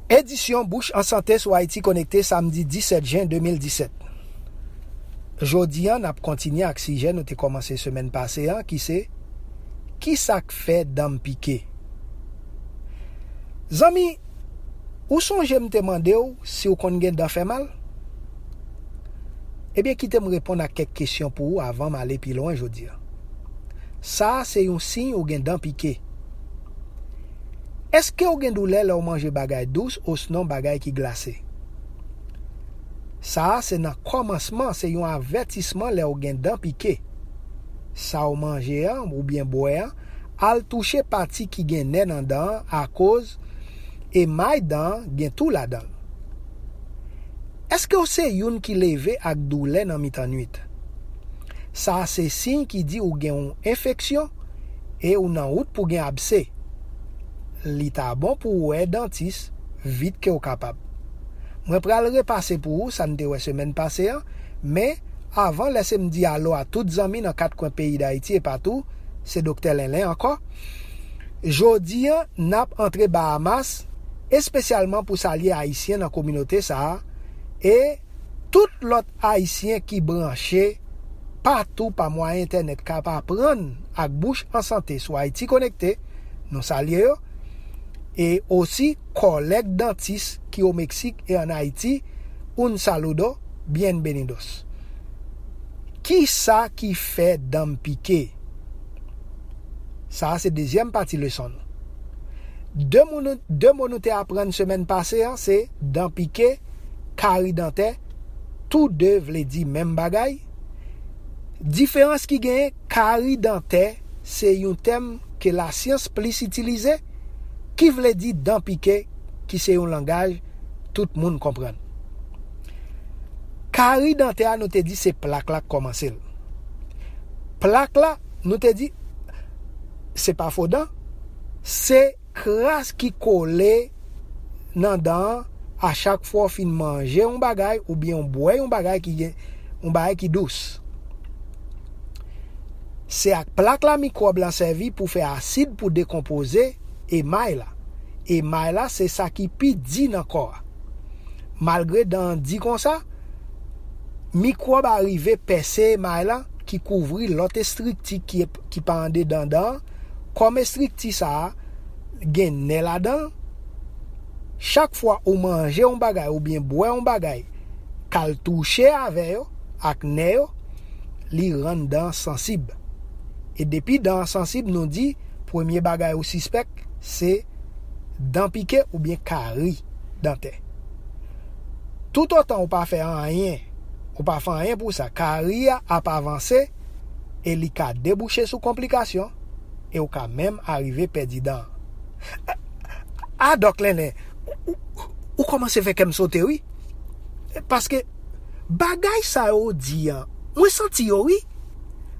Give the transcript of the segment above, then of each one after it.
Edisyon Bouch an Sante sou Ayiti Konekte samdi 17 jen 2017 Jodi an n ap kontinye ak sijè nou te kòmanse semèn pase an ki se Ki sa k fè dan m pike? Zanmi, ou sonje m te mande w si w konn gen dan fè mal? Ebyen kite m reponn ak kèk kesyon pou ou avan m ale pi lwen jodi an. Sa a se yon siy ou gen dan pike. Èske w gen doulè lè w manje bagay dous osnon bagay ki glase? Sa a se nan kòmansman, se yon avètisman lè w gen dan pike. Sa w manje an oubyen bwè an al touche pati ki gen nè nan dan an akoz emay dan an gen tou ladan l. Èske w se youn ki leve ak doulè nan mitan nuit? Sa a se siy ki di ou gen yon enfeksyon e ou nan wout pou gen abse, li ta bon pou ou wè dantis vit ke ou kapab. Mwen pral repase pou ou sa n te wè semèn pase an, men avan lèse m di alo a tout zanmi nan kat kwen peyi Dayiti e patou, se Doktè Lenlen ankò. Jodi an n ap antre Bahamas espesyalman pou salye Ayisyen nan kominote sa a e, Tout lòt Ayisyen ki branche patou pa mwayen entènèt kap aprann ak bouch an sante sou Ayiti Konekte, nou salye yo, e osi kòlèg dantis ki o Meksik e an Ayiti, un saludo, bienvenidos. Kisa ki fè dan m pike? Sa a se dezyèm pati leson nou. De mo nou te aprann semèn pase an se dan pike, kari dantè, tou de vle di menm bagay. Diferans ki genyen, kari dantè se yon tèm ke lasyans plis itilize, ki vle di dan pike ki se yon langaj tout moun konprann. Kari dantè a nou te di se plak la k kòmanse l. Plak la nou te di se pa fo dan, se Kras ki kole nan dan an a chak fwa w fin manje yon bagay oubyen w bwè yon bagay ki gen yon bagay ki dous. Se ak plak la mikwòb la sèvi pou fè asid pou dekonpoze emay la. Emay la se sa ki pi di nan kò a. Malgre dan an di konsa, mikwòb arive pèse emay la ki kouvri lòt estrikti ki pa andedan dan an, Kòm estrikti sa a gen nè ladan l, chak fwa ou manje yon bagay oubyen bwè yon bagay k al touche avè yo, ak nè yo, li rann dan an sansib. E depi dan an sansib nou di premye bagay ou sispèk se dan pike oubyen kari dantè. Toutotan ou pa fè anyen, ou pa fè anyen pou sa, kari a ap avanse, e li ka debouche sou konplikasyon e w ka menm arive pèdi dan. A a Dòk Lèlè, ou kòmanse fè kè m sote wi, paske bagay sa yo ou di an, mwen santi yo wi.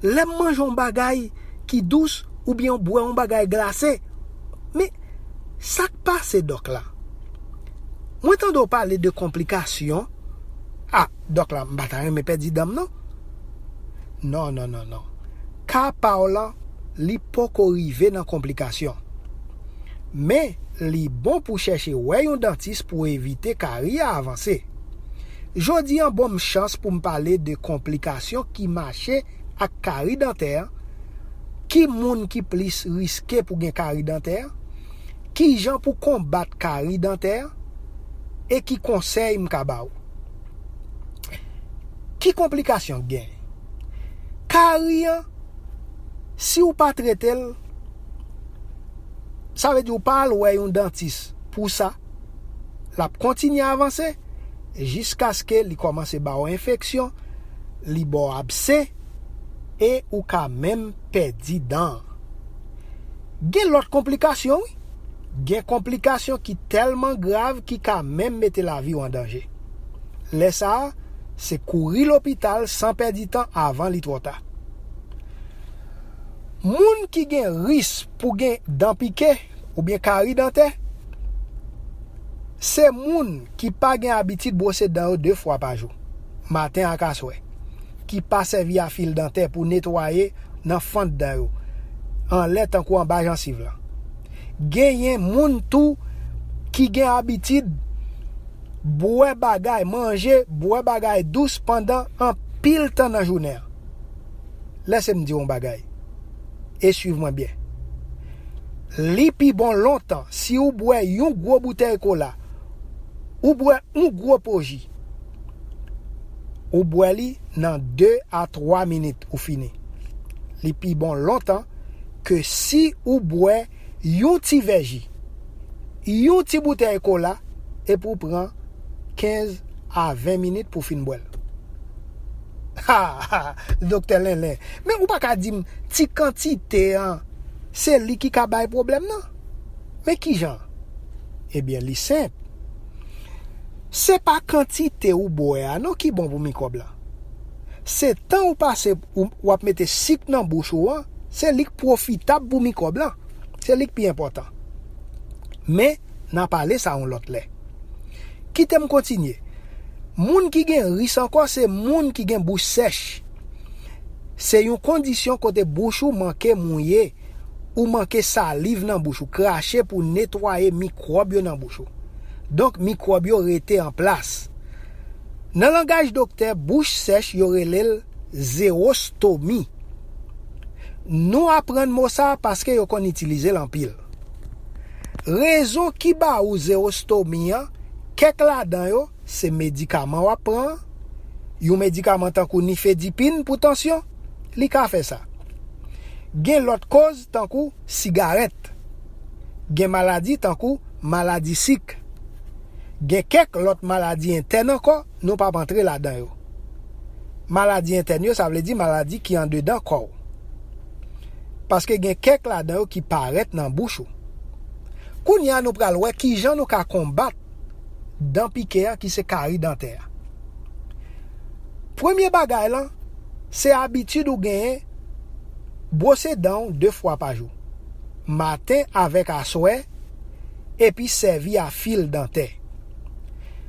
Lè m manje yon bagay ki dous oubyen m bwè yon bagay glase. Men, sa k pase Dòk la? Mwen tande w pale de konplikasyon. A, Dòk la, m pa ta renmen pèdi dan m non. Non non non non ka pa w lan li poko rive nan konplikasyon men li bon pou chèche wè yon dantis pou evite kari a avanse. Jodi an bonm chans pou m pale de konplikasyon ki mache ak kari dantè, ki moun ki plis riske pou gen kari dantè, kijan pou konbat kari dantè e ki konsèy m ka ba w. Ki konplikasyon k gen? Kari an, si w pa trete l, sa vle di ou pa al wè yon dantis pou sa, l ap kontinye avanse jiskaske li kòmanse ba w enfeksyon, li ba w abse e ou ka menm pèdi dan an. Gen lòt konplikasyon wi. Gen konplikasyon ki tèlman grav ki ka menm mete lavi w an danje. Lè sa a, se kouri lopital san pèdi tan avan li twò ta. Moun ki gen ris pou gen dan pike oubyen kari dantè, se moun ki pa gen abitid bwose dan yo 2 fwa pa jou, maten ak aswè, ki pa sèvi a fil dantè pou netwaye nan fant dan yo, anlè tankou anba jansiv lan. Genyen moun tou ki gen abitid bwè bagay, manje, bwè bagay dous pandan anpil tan nan jounen an. Lèse m di w yon bagay e suiv mwen byen. Li pi bon lontan si ou bwè yon gwo boutèy kola, ou bwè yon gwo po ji, ou bwè li nan 2 a 3 minit ou fini. Li pi bon lontan ke si ou bwè yon ti vè ji, yon ti boutèy kola epi ou pran 15 a 20 minit pou fin bwèl. Ha! Ha! Doktè Lenlen, men ou pa ka di m ti kantite an se li ki ka bay pwoblèm nan? Men kijan? Ebyen li senp. Se pa kantite ou bwè a non ki bon pou mikwòb la. Se tan ou pase w ap mete sik nan bouch ou an se li k pwofitab pou mikwòb lan, se li k pi enpòtan. Men, n a pale sa yon lòt lè. Kite m kontinye. Moun ki gen ris ankò se moun ki gen bouch sèch. Se yon kondisyon kote bouch ou manke mouye, ou manke saliv nan bouch ou, krache pou netwaye mikwòb yo nan bouch ou. Donk, mikwòb yo rete an plas. Nan langaj doktè, bouch sèch yo rele l. Zewostomi. Nou aprann mo sa paske yo konn itilize l anpil. Rezon ki ba ou zewostomi an, kèk ladan yo se medikaman w ap pran an, yon medikaman tankou nifedipin pou tansyon, li ka fè sa. Gen lòt koz tankou sigarèt. Gen maladi tankou maladi sik. Gen kèk lòt maladi entèn ankò nou p ap antre ladan yo. maladi entèn yo, sa vle di maladi ki andedan kò ou. Paske gen kèk ladan yo ki parèt nan bouch ou. Kounye a nou pral wè ki jan nou ka konbat dan pike a ki se kari dantè a. Premye bagay lan, se abitid ou genyen bwose dan ou 2 fwa pa jou. Maten avèk aswè epi sèvi a fil dantè.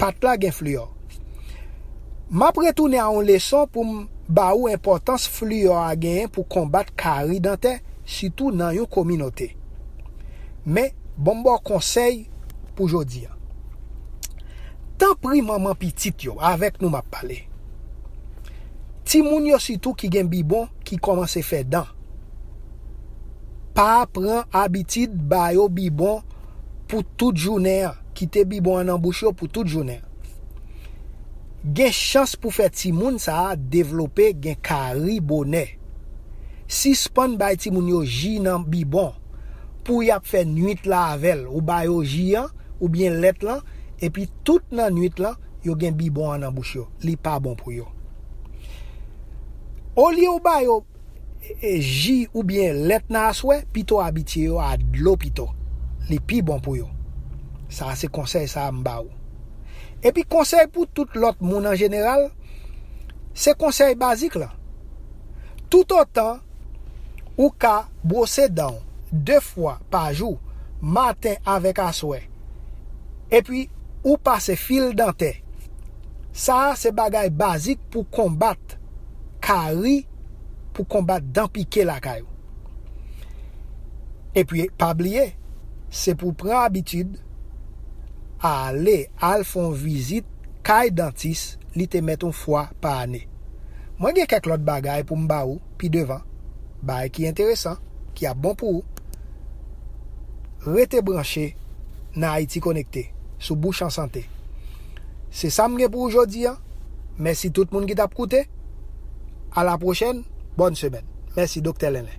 Pat la gen fluor. Map retounen a yon leson poum ba ou enpòtans fluor a genyen pou konbat kari dantè sitou nan yon kominote. Men, bonm baw konsèy pou jodi an. Tanpri manman pitit yo, avèk nou map pale. Timoun yo sitou ki gen bibon ki kòmanse fè dan. Pa pran abitid ba yo bibon. pou tout jounen an, kite bibon an nan bouch yo pou tout jounen an. Gen chans pou fè timoun sa a devlope gen kari bonè. Sispann bay timoun yo ji nan bibon pou y ap fè nuit la avè l, ou ba yo ji an oubyen lèt lan epi tout nan nuit lan yo gen bibon an nan bouch yo, li pa bon pou yo. Olye ou ba yo. ji oubyen lèt nan aswè, pito abitye yo a dlo pito. Li pi bon pou yo. Sa a se konsèy sa a m ba ou. Epi konsèy pou tout lòt moun an jeneral, se konsèy bazik lan. Toutotan ou ka bwose dan w 2 fwa pa jou, maten avèk aswè, epi ou pase fil dantè, sa a se bagay bazik pou konbat. ka ri pou konbat dan pike lakay ou. Epi pa bliye, se pou w pran abitid ale al fè yon vizit kay dantis li te mèt yon fwa pa ane. Mwen gen kèk lòt bagay pou m ba ou pi devan, bagay ki enteresan, ki ap bon pou ou. Rete branche nan Ayiti Konekte sou Bouch an Sante. Se sa m gen pou ou jodi an. Mèsi tout moun ki tap koute. A la pwochèn, bòn semèn. Mèsi Doktè Lenlè.